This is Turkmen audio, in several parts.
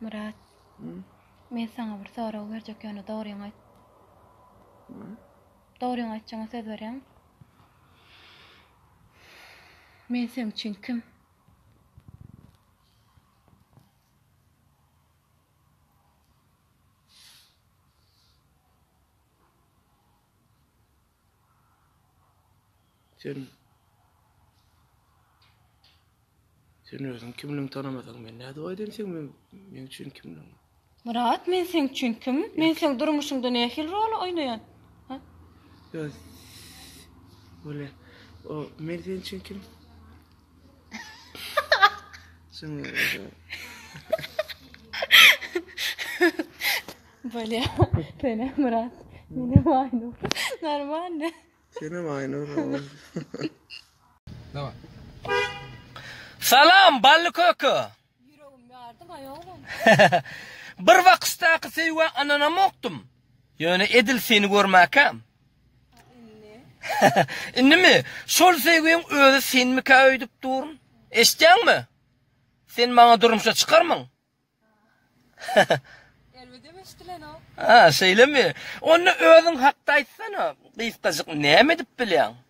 Myrat. Men saňa bir sorag berjek ýöne dogryňy aýt. Dogryňy aýtjagyňa söz berýäňmi? Men seň üçin kim? Sen Sen özüň kimligiňi tanamasaň, men nädip aýdaýyn sen men meň üçin kimligiňi? Myrat, men seň üçin kim? Men seň durmuşyňda nähili rol oýnaýan? Ha? Ýa, Böyle, o men seň üçin kim? Bolýa. Sene Murat. Mene Aynur. Normalny. Sene Aynur. Salam, bally köke. Ýüregim ýardy maýa oglan. Bir waksdaky söýgä ananamokdym. Ýöne edil seni görmäkäm. Indimi? Şol söýgiň özi senmikä öýdüp durun. Eşitýäňmi? Sen maňa durmuşa çykarmyň? Elbedem eşdilenok. Ha, şeýlemi? Onda özüň hakda aýtsana. Gysgajyk näme edip bilýäň?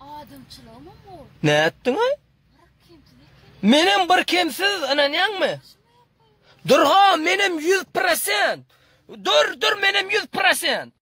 Adamçylygymam bol. Nätdiňaý? Menem bir kemsiz ynanýaňmy? Dur ha menem ýüz prosent. Dur dur menem ýüz prosent.